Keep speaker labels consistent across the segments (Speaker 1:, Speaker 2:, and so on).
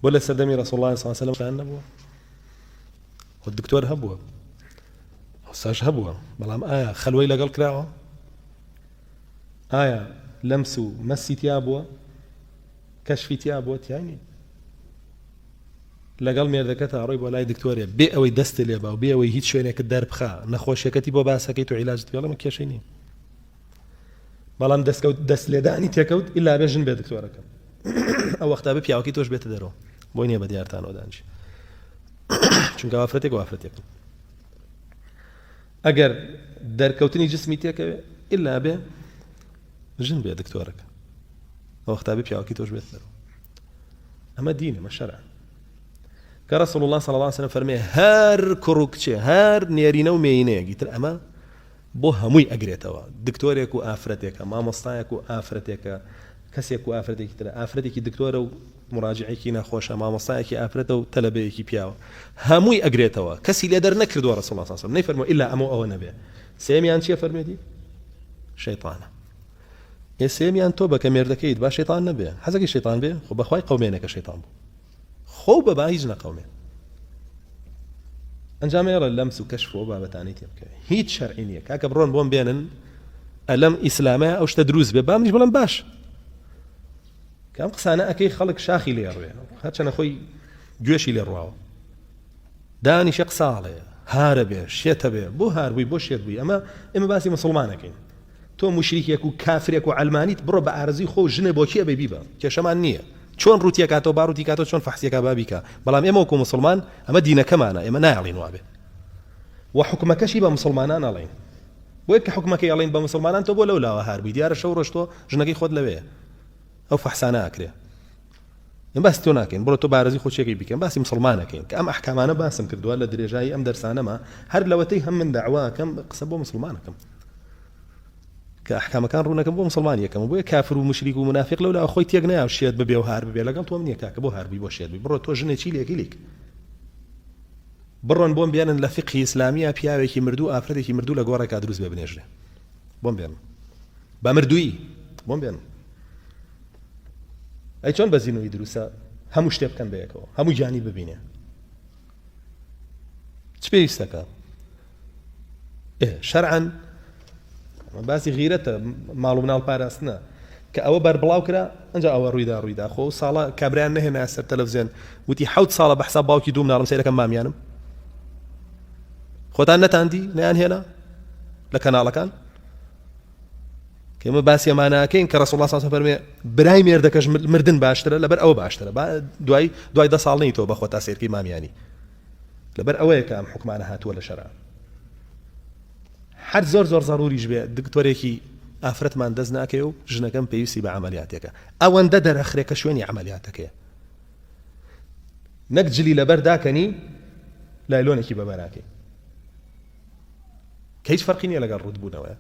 Speaker 1: بۆ لە سەردەمی رسول الله صلی الله علیه و نەبووە خۆ دکتۆر هەبووە ئەوساش هەبووە بەڵام ئایا خەلوەی لەگەڵ کراوە ئایا لەمس و مەسی تیا بووە کەشفی تیا بووە تیانی لەگەڵ مێردەکە تا ڕۆی بۆ لای دکتۆرێ بێ ئەوەی دەستی لێبا و بێ ئەوەی هیچ شوێنێکە دەربخا نەخۆشیەکەتی بۆ باسەکەیت و عیلاجت پێڵم کێشەی نیە بەڵام دەستکەوت دەست لێدانی تێکەوت ئللا بێ ژن بێ دکتۆرەکەم ئەو وەختا بە پیاوەکەی تۆش بێتە دەرەوە بۆی نیە بە دیارتانەوە دانج چونکە وافرەتێک وافرەتێکم ئەگەر دەرکەوتنی جسمی تێکەوێ ئللا بێ ژن بێ دکتۆرەکە ئەوەختا بە پیاوەکەی تۆش بێت دەرەوە ئەمە دینە مە شەرع کە رسول الله صلى الله عليه وسلم فەرمێ هەر کوڕ و کچێ هەر نێرینە و مێینەیەگی تر ئەمە بۆ هەمووی ئەگرێتەوە دکتۆرێک و ئافرەتێکە مامۆستایەک و ئافرەتێکە کەسێک و ئافرەتێکی ترە ئافرەتێکی دکتۆرە و مراجعێکی نەخۆشە مامۆستایەکی ئافرەتە و تەلەبەیەکی پیاوە هەمووی ئەگرێتەوە کەسی لێ دەر نەکردووە ڕەسوڵ اللە ساسەم نەیفەرمووە ئیلا ئەمەو ئەوە نەبێ سێمیان چیە فەرمێدی شەیطانە ئێ سێمیان تۆ بەکە مێردەکەیت با شەیطان نەبێ حەزەکەی شەیطان بێ خۆ بەخوای قەومێنەکە شەیطان بوو خۆو بە با هیچ نەقەومێ. ئەنجام ئێڕە لەمس و کەشف و بابەتانی تێ بکەوێ هیچ شەرعی نییە کاکە بڕۆن بۆم بێنن ئەلەم ئیسلامە ئەو شتە دروست بێ بامنیش بڵم باش کام قسانە ئەەکەی خەڵک شاخی لێ ڕوێ هەچەنە خۆی گوێشی لێ ڕواوە دانیشە قساڵێ هارە بێ شێتە بێ بۆ هاربووی بۆ شێت بووی ئەمە ئێمە باسی مسلمانەکەین تۆ موشریکێک و کافرێک و عەلمانیت بڕۆ بە ئارەزوی خۆ و ژنێ بۆ کێ ئەبەی بیبە کێشەمان نیە چۆن ڕوتی ئەکاتەوە با ڕوتی کاتەوە چۆن فەحسی ئەکا با بیکا بەڵام ئێمە وەکو موسڵمان ئەمە دینەکەمانە ئێمە نایەڵین وابێ و حکومەکەشی بە موسڵمانان ئەڵێین بۆیە کە حکومەکەی ئەڵێن بە موسڵمانان تۆ بۆ لەو لاوە هار بووی دیارە شەو ڕۆشتۆ ژنەکەی خۆت لەوەیە ئەو فەحسانە ئەکرێ ئێمە باسی تۆ ناکەین بڕۆ تۆ بارزی خۆچیەکەی بیکەن باسی مسوڵمانەکەین کە ئەم ئەحکامانە باسم کردوە لە درێژایی ئەم دەرسانەما هەر لەوەتەی هەم من داوا ئەکەم قسە بۆ مسوڵمانەکەم کە ئەحکامەکان ڕوونەکەم بۆ مسلمان یەکەم بۆیە کافر و مشریک و منافق لەولا خۆی تێک نیا و شێت ببێ و هار ببێ لەگەڵ تۆم نییە کاکە بۆ هاربی بۆ شێت بی بڕۆ تۆ ژنێ چی لێکی لیک بڕۆن بۆم بێنن لە فقهی ئیسلامیە پیاوێکی مردوو ئافرەتێکی مردوو لە گۆڕێکا دروست بێ بنێژرێ بۆم بێن بە مردووی بۆم بێن ئەی چۆن بەزینەوەی دروستە هەموو شتێ بکەن بەیەکەوە هەموو گیانی ببینێ چ پێویستەکە شەرعەن باسی غیرەتە ماڵ مناڵ پاراستنە کە ئەوە بەر بڵاو کرا ئەنج ئەوە ڕوویدا ڕوویدا خۆ ساڵە کابرایان نەهێنا سەر تەلەڤزیێن وتی حوت ساڵە بەحسا باوکی دوو مناڵم سێرەکەم مامیانم خۆتان نەتاندی نیان هێنا لە کەناڵەکان کەمە باسی ماناکەین کە ڕسوڵ ساس فەرمێ برای مێردەکەش مردن باشترە لەبەر ئەوە باشترە دوای دوای دە ساڵ نیتەوە بەخۆ تا سێرکی مامیانی لەبەر ئەوەیە کە ئەم حکومانە هاتووە لە شەرا هەر زۆر زۆر زەروریش بێ دکتۆرێکی ئافرەتمان دەست ناکەێ و ژنەکەم پێویستی بە عملیاتێکە ئەوەندە دەرەخرێکە شوێنی عملیاتەکەی نەک جلی لەبەر داکەنی لایلۆنێکی بەبەراکەی کە هیچ فەرقی نییە لەگەڵ ڕووتبوونەوە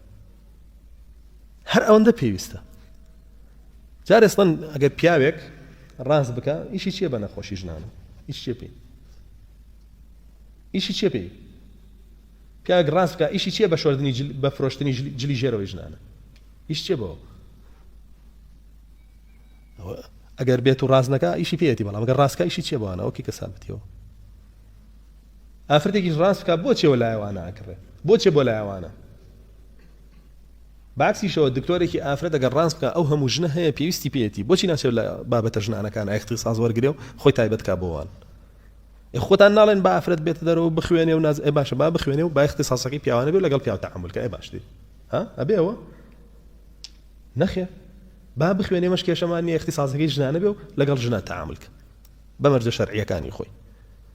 Speaker 1: هەر ئەوەندە پێویستە جارێ سڵەن ئەگەر پیاوێک ڕاست بکە ئیشی چیە بە نەخۆشی ژنانە ئیش چێ پێی ئیشی چێ پێی پیاگ ڕاست بکە ئیشی چیە بە شۆردنی بە فرۆشتنی جلی ژێرەوەی ژنانە ئیش چێ بەوە ئەگەر بێت و ڕاستنەکە ئیشی پێێتی بەڵام گە ڕاستکە ئیشی چێ بەوانەوە کی کە سابتیەوە ئافرەتێکیش ڕاست بکا بۆچێ وەلای ئەوانە ئەکڕێ بۆچێ بۆ لای ئەوانە بەعکسیشەوە دکتۆرێکی ئافرەت ئەگەر ڕاست بکا ئەو هەموو ژنە هەیە پێویستی پێیەتی بۆچی ناچێت لە بابەتە ژنانەکان ئایختیساس وەرگرێ و خۆی تایبەت کا بۆوان ئێ خۆتان ناڵێن با ئافرەت بێتە دەرەوە بخوێنێ و ناز ئێ باشە با بخوێنێ و با ئیختیساسەکەی پیاوانە بێ لەگەڵ پیاو تەعامول کە ئێ باش دی ها ئەبێ ئەوە نەخێر با بخوێنێ مەش کێشەمان نیە ئیختیساسەکەی ژنانە بێ و لەگەڵ ژنە تەعامول کە بە مەرجە شەرعیەکانی خۆی